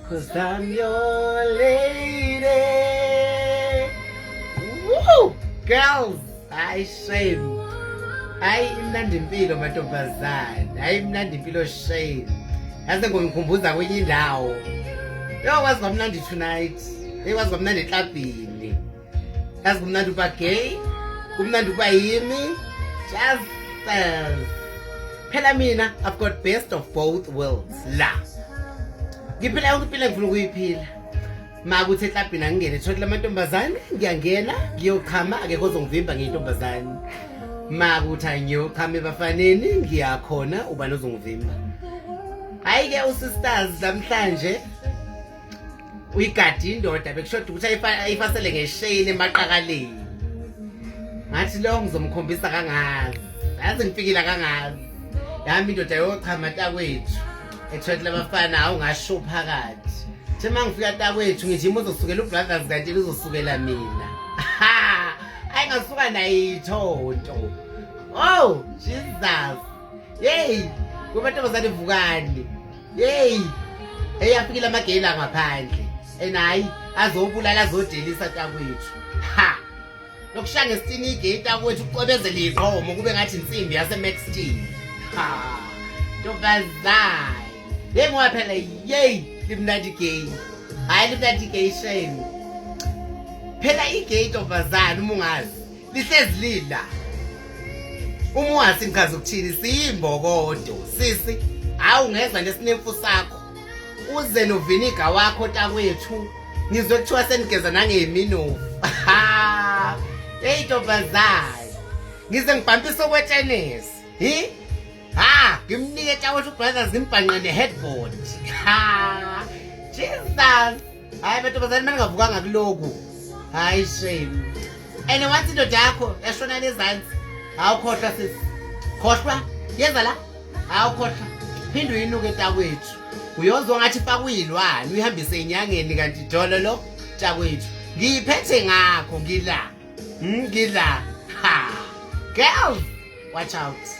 Cause I'm your lady. Woo! Girls, I shame. Hayi imnandi impilo mantombazane. Hayi imnandi impilo shame. Yaze ngomkhumbuza kwenye indawo. Yo kwazi kwamnandi tonight. Hey kwazi kwamnandi eklabhini. yazi kumnandi ukuba gay kumnandi ukuba yimi just phela mina i've got best of both worlds la ngiphila yonke impilo engifuna ukuyiphila makuthi eklabhini angingene thole lamantombazane ngiyangena ngiyochama akekho ozongivimba ngiyintombazane makuthi angiyochama ebafaneni ngiyakhona ubani ozongivimba hhayi-ke usisters namhlanje uyigadi indoda bekushoda ukuthi ayifasele ngesheyini emaqakaleni ngathi lo ngizomkhombisa kangazi yazi ngifikile kangazi yami indoda yochama takwethu ethwethile abafana hawu ngasho phakathi thi uma ngifika takwethu ngithi ima uzosukela ubrothers kanti lizosukela mina ha ayi ngasuka nayithonto oh jesus yeyi kubantu abazalivukani yeyi eyi afikile amageyini angaphandle and hhayi azobulala azodelisa takwethu ha lokushaya ngesitini igeyi takwethu kucwebezela izomo kube ngathi insimbi yasemextin ha ntombazane yeyi ngoba phela yeyi limnandi igeyi hhayi limnandi igeyi shame phela igeyi ntombazane uma ungazi lihlezi lila uma ungathi ngikhazi ukuthini siyimbokodo sisi hawu ngeza nesinemfu sakho uze noviniga wakho takwethu ngizwe kuthiwa senigeza nangeminovu eyi ntombazane ngize ngibhampise okwetenisi hi ha ngimnike takwethu brothers ngimbhanqe ne-headboard ha jesus hayi amantombazane maningavukanga kuloku hayi shame and once indoda yakho yashona lezantsi hawukhohlwa sisi khohlwa yeza la hawukhohlwa phinde uyinuke takwethu uyozwa ngathi fakuyilwane uyihambise inyangeni kanti dolo lo takwethu ngiyiphethe ngakho ngila hmm, ngila ha girls watch out